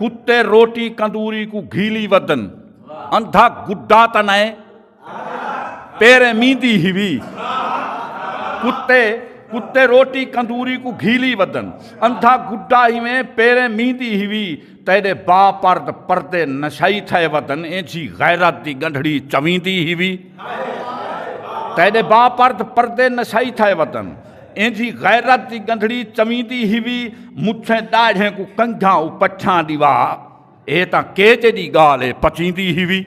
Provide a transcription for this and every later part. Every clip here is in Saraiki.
کتے روٹی کندوری کو گھیلی ودن اندھا گڈا تا نائے تیرے میندی ہی وی کتے کتے روٹی کندوری کو گھیلی ودن اندھا گڈا ہی میں پیرے میندی ہی وی تیرے با پرد پردے نشائی تھے ودن اینجھی غیرت دی گنڈھڑی چویندی ہی وی تیرے با پرد پردے نشائی تھے ودن ایندھی غیرت دی گندھڑی چویندی ہیوی مچھیں داڑھیں کو کنگھاں او پچھاں دیوا اے تاں کیجے دی گال اے پچیندی ہیوی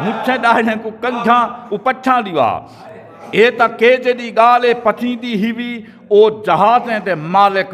مچھیں داڑھیں کو کنگھاں او پچھاں دیوا اے تاں کیجے دی گال اے پچیندی ہیوی او جہازیں دے مالک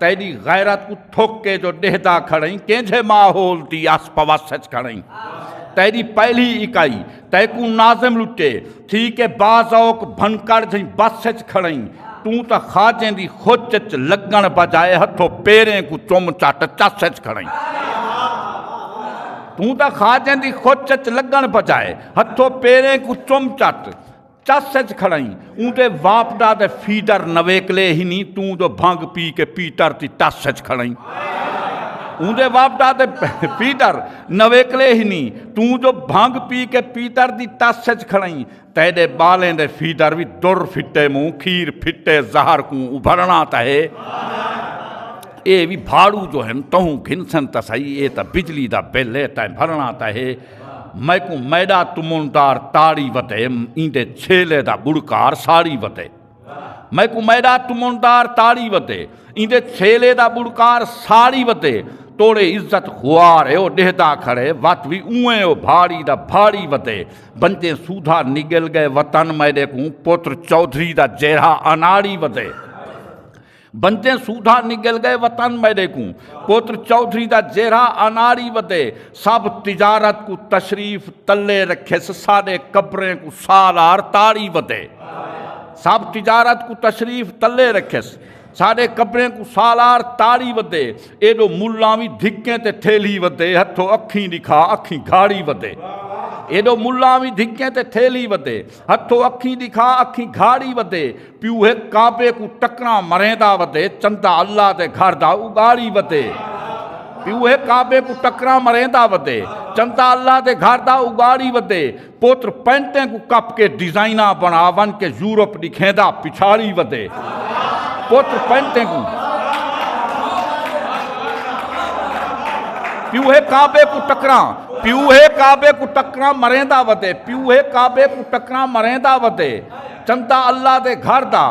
تیݙی غیرت کوں تھک کے جو ݙیہدا کھڑئیں کینجھے ماحول دی آس پواس اچ کھڑئیں تیݙی پہلی اکائی تیکوں ناظم لٹے تھی کے با ذوق بھنکڑ جھئیں بس اچ کھڑئیں توں تاں خواجیں دی خچ اچ لڳݨ بجائے ہتھو پیریں کوں چم چٹ چس اچ کھڑئیں توں تاں خواجیں دی خچ اچ لڳݨ بجائے ہتھو پیریں کوں چم چٹ چس اچ کھڑائیں اوندے واپڈا دے فیڈر نویکلے ہی نہیں توں جو بھنگ پی کے پیٹر تی ٹس اچ کھڑائیں اوندے واپڈا دے پیٹر نویکلے ہی نہیں توں جو بھنگ پی کے پیٹر دی ٹس اچ کھڑائیں تیڈے بالیں دے فیڈر بھی در پھٹے موں کھیر پھٹے زہر کوں ابھرنا تا ہے اے بھی بھاڑو جو ہیں تہوں گھنسن تا سائی اے تا بجلی دا بل ہے تا بھرنا تا ہے میکوں میڈا تمونٹار تاڑی وتے ایندے چھیلے دا بڑکار ساڑی وتے میکوں میڈا تمونٹار تاڑی وتے ایندے چھیلے دا بڑکار ساڑی وتے توڑے عزت خوار ہے او ڈہدا کھڑے وت وی اوئیں او بھاڑی دا بھاڑی وتے بنتے سودھا نگل گئے وطن میڈے کوں پتر چودھری دا جیرھا اناڑی وتے بنجیں سودھا نگل گئے وطن میڈے کوں پتر چودھری دا جیرھا اناڑی ودے سب تجارت کوں تشریف تلے رکھیس ساڈے قبریں کوں سالار تاڑی ودے سب تجارت کوں تشریف تلے رکھیس ساڈے قبریں کوں سالار تاڑی ودے ایڈو ملاں وی دھکیں تے تھیلی ودے ہتھو اکھیں دکھا اکھیں گھاڑی ودے ایڈو ملاں وی دھکیں تے تھیلی ودے ہتھو اکھیں دکھا اکھیں گھاڑی ودے پیو ہے کعبے کو ٹکرا مریندا ودے چندہ اللہ دے گھر دا اگاڑی ودے پیو ہے کعبے کو ٹکرا مریندا ودے چندہ اللہ دے گھر دا اگاڑی ودے پوتر پینٹیں کو کپ کے ڈیزائنہ بنا ون کے یورپ دکھیندا پچھاڑی ودے پوتر پینٹیں کو پیو ہے کعبے کو ٹکرا پیو ہے کعبے کو ٹکرا مریندا ودے پیو ہے کعبے کو ٹکرا مریندا ودے چنتا اللہ دے گھر دا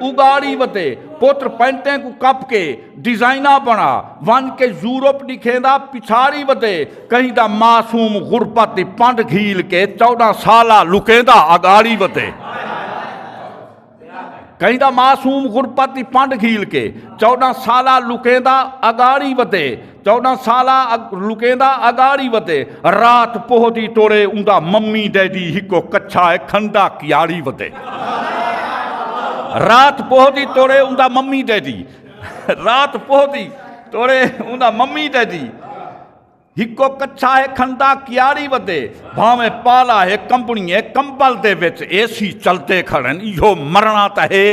اگاڑی وتے پتر پینٹیں کوں کپ کے ڈیزائناں بنا ون کے یورپ ڈکھیندا پچھاڑی وتے کہیں دا معصوم غربت دی پنڈ گھیل کے چودہ سالہ لکیندا اگاڑی وتے کہیں دا معصوم غربت دی پنڈ گھیل کے چودہ سالہ لکیندا اگاڑی وتے چوڈاں سالہ لکیندا اگاڑی وتے رات پوہدی ٹورے اوندا ممی ڈیڈی ہکو کچھا ہے کھنڈا کیاڑی وتے رات پوہدی ٹورے اوندا ممی ڈیڈی رات پوہدی ٹورے اوندا ممی ڈیڈی ہکو کچھا ہے کھنڈا کیاڑی وتے بھانویں پالا ہے کمپنی ہے کمبل دے وچ اے سی چلتے کھڑن ایہو مرنا تا ہے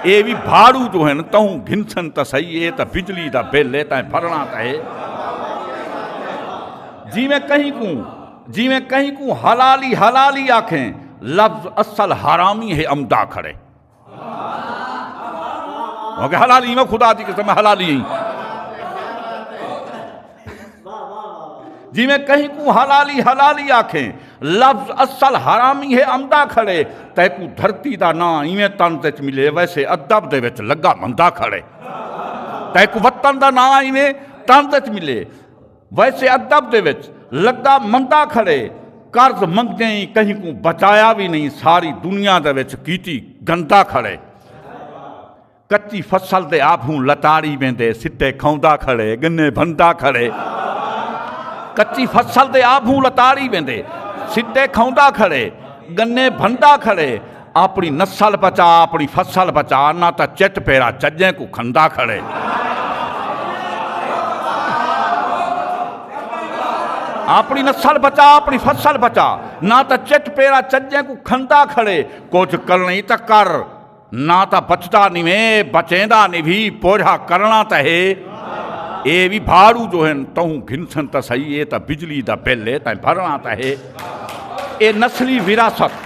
اے بھی بھاڑو جو ہیں تہوں گھنسن تا صحیح ہے تا بجلی دا بل ہے تا بھرنا تا ہے جی میں کہیں کوں جی میں کہیں کوں حلالی حلالی آکھیں لفظ اصل حرامی ہے امدا کھڑے کہ حلالی میں خدا دی قسم حلالی ہیں جی میں کہیں کو حلالی حلالی آکھیں لفظ اصل حرامی ہے امدہ کھڑے تے کو دھرتی دا نا ایویں تن تے ملے ویسے ادب دے وچ لگا مندہ کھڑے تے کو وطن دا نا ایویں تن تے ملے ویسے ادب دے وچ لگا مندا کھڑے قرض منگیں ای کہیں کوں بچایا وی نہیں ساری دنیا دے وچ کیتی گندا کھڑے کچی فصل دے آبھوں لتاڑی ویندے سٹے کھوندا کھڑے گنے بھندا کھڑے کچی فصل دے آبھوں لتاڑی ویندے سٹے کھوندا کھڑے گنے بھندا کھڑے آپݨی نسل بچا آپݨی فصل بچا نہ تاں چٹ پیرا چجیں کوں کھندا کھڑے آپنی نسل بچا اپنی فصل بچا نہ تا چٹ پیرا چجے کو کھندا کھڑے کچھ کرنی تا کر نہ تا بچتا نیویں بچیندا نیوی پوجھا کرنا تا ہے اے بھی بھاڑو جو ہن تہوں گھنسن تا سہی اے تا بجلی دا بل اے تا بھرنا تا ہے اے نسلی وراثت